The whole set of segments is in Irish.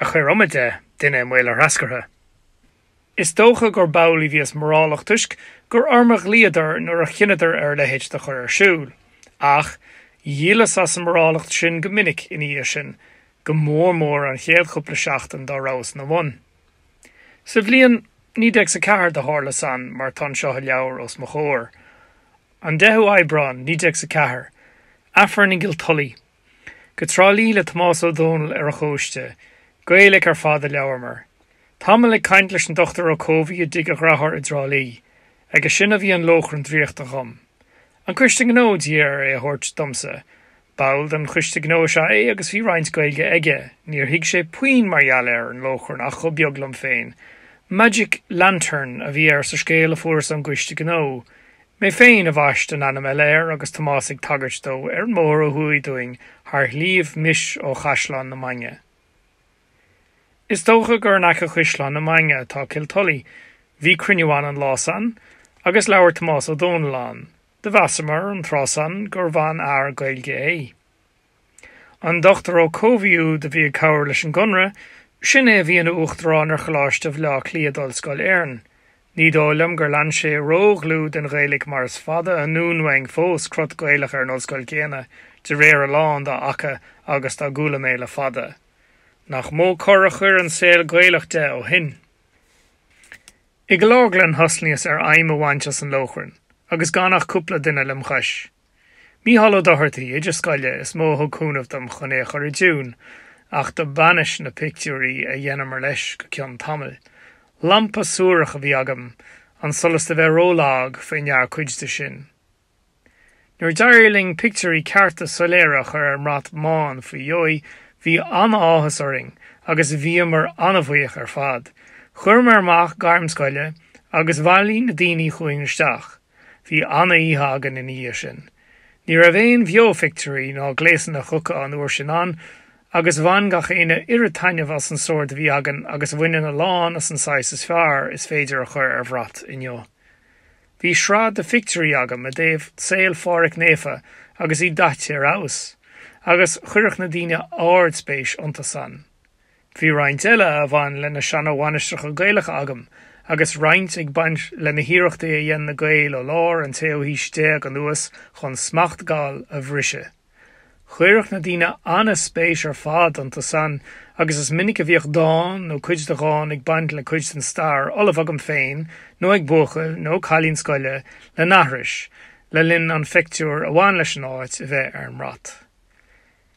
a chuir iomad de duine i mbaol a threascartha. Is dócha gur b'amhlaidh a bhíos mórálach toisc gur orm a ghlaíodar nuair a chinneadar ar a leithéid do chur ar siúl. Ach dhíolas as an mórálacht sin go minic ina dhiaidh sin, go mór mór an chéad chúpla seachtain dá rabhas ina bhun. Sa bhliain naoi déag 's a ceathair do tharla san mar tá anseo i leabhar os mo chomhair. An deichiú Aibreán, naoi déag 's a ceathair. Aifreann i gCill Tulaí. Go Trá Lí le Tomás Ó Dónaill ar a chóiste. Gaeilg ar fad a labhramar. Tamall ag caint leis an Dr Ó Cobhthaigh i dtigh a dhriotháir i dTrá Lí. Aige sin a bhí an lóchrann draíochta chugham. An Coiste Gnó d'iarr air é a thabhairt domsa. Ball den Choiste Gnó is ea é agus bhí roinnt Gaeilge aige. Níor thuig sé puinn mar gheall ar an lóchrann ach chomh beag liom féin. Magic lantern a bhí air sa scéal a fuaireas ón gCoiste Gnó. Mé féin a bhaist an ainm eile air agus Tomás ag tagairt dó ar an mbóthar ó thuaidh dúinn thar Shliabh Mis ó Chaisleán na Mainge. Is dócha gur in aice Chaisleán na Mainge atá Cill Tulaí, bhí cruinniú ann an lá san agus labhair Tomás Ó Dónaill ann, do mheasamar an tráth san gurbh an-fhear Gaeilge é. An Dr Ó Cobhthaigh úd a bhí ag cabhair leis an gConradh, sin é a bhí ina Uachtarán ar Choláiste Bhleá Cliath d'Ollscoil Éireann. Ní dóigh liom gur lean sé ró-dhlúth den Ghaeilg mar is fada anonn uainn fós crot Gaelach ar an Ollscoil céanna de réir a lán dá fhaca agus dá gcuala mé le fada. Nach mó cor a chuir an saol Gaelach de ó shin. I gCill Orglan thosnaíos ar fheidhm a bhaint as an lóchrann agus gan ach cúpla duine lem' chois. Mícheál Ó Dochartaí, oide scoile, is mó a thug cúnamh dom chun é a chur i dtiún, ach do b'ainnis na pictiúirí a dheineamar leis go cionn tamaill. Lampa suarach a bhí agam, an solas do bheith ró-lag fé ndear cuid de sin. Nuair d'éirigh linn pictiúirí cearta soiléire a chur ar an mbrat mbán faoi dheoidh bhí an-áthas orainn agus bhíomar an-bhuíoch ar fad. Chuireamar amach gairm scoile agus bhailigh na daoine chugainn isteach. Bhí ana-oíche againn ina dhiaidh sin. Ní raibh aon bheo-phictiúirí ná gléasanna chuca an uair sin ann, agus bhain gach éinne oiread taitneamh as an sórd a bhí againn agus a bhaineann a lán as an saghas is fearr is féidir a chur ar bhrat inniu. Bhí sraith de phictiúirí agam i dtaobh saol Pháraic Naofa agus í daite ar fheabhas, agus chuireadh na daoine ard-spéis iontu san. Bhí roinnt eile a bhain le na seana-mhainistreacha Gaelacha agam, agus roinnt ag baint le na hiarrachtaí a dhein na Gaeil ó lár an tséú haois déag anuas chun smacht Gall a bhriseadh. Chuireadh na daoine ana-spéis ar fad iontu san, agus is minic a bhíodh dán nó cuid de dhán ag baint le cuid den stair ullamh agam féin nó ag buachaill nó cailín scoile le n-aithris le linn an phictiúir a bhain leis an áit a bheith ar an mbrat.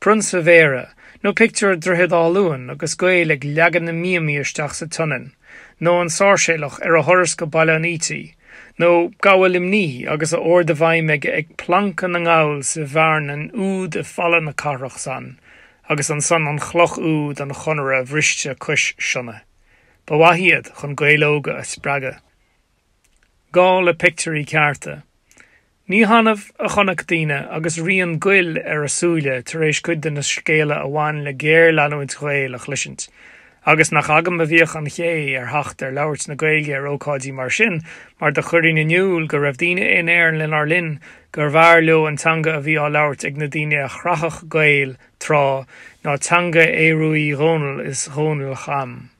Prionsa Bhéarra, nó pictiúr Dhroichead Átha Luain agus Gaeil ag leagan na mbíomaí isteach sa tSionainn, nó an Sáirséalach ar a thuras go Baile an Fhaoitigh, nó gabha Luimní agus a ord i bhfeidhm aige ag plancadh na nGall sa bhearnain úd i Falla na Cathrach san agus ansan an chloch úd an Chonartha bhriste cois Sionna. Ba mhaith iad chun Gaeil óga a spreagadh. Gá le pictiúirí cearta. Ní hannamh a chonac daoine agus rian goil ar a súile tar éis cuid de na scéala a bhain le géarleanúint Ghael a chloisint. Agus nach agam a bhíodh an chaoi ar theacht ar labhairt na Gaeilge ar ócáidí mar sin mar do chuirinn in iúl go raibh daoine in Éirinn lenár linn gurbh fhearr leo an teanga a bhí á labhairt ag na daoine a chreachadh Gaeil tráth ná teanga Aodha Rua Uí Dhónaill is Dhónaill Cham.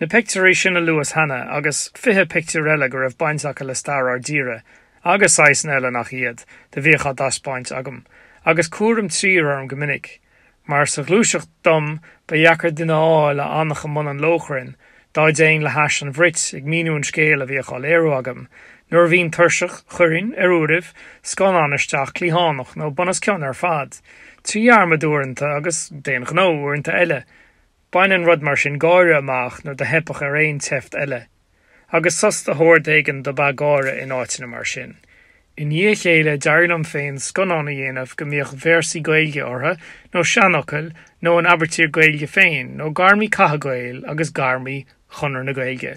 Na pictiúirí sin a luas cheana, agus fiche pictiúr eile go raibh baint acu le stair ár dtíre, agus saghasanna eile nach iad, do bhíodh á dtaispeáint agam, agus cúram trír orm go minic, mar sa ghluaiseacht dom ba dheacair duine a fháil a fhanfadh i mbun an lóchrainn dá dtéinn le hais an bhruit ag míniú an scéil a bhíodh á léiriú agam. Nuair a bhínn tuirseach, chuirinn, ar uairibh, scannán isteach, cliathánach nó bunoscionn ar fad, trí dhearmad uaireanta agus, d'aon ghnó, uaireanta eile, Baineann rud mar sin gáire amach nuair do theipfeadh ar aon tseift eile. Agus sos de shórd éigin dob ea gáire in áiteanna mar sin. I ndiaidh a chéile d'éirigh liom féin scannáin a dhéanamh go mbíodh véarsaí Gaeilge orthu, nó seanfhocail, nó an aibítir Gaeilge féin, nó gairmí catha Gael agus gairmí Chonradh na Gaeilge.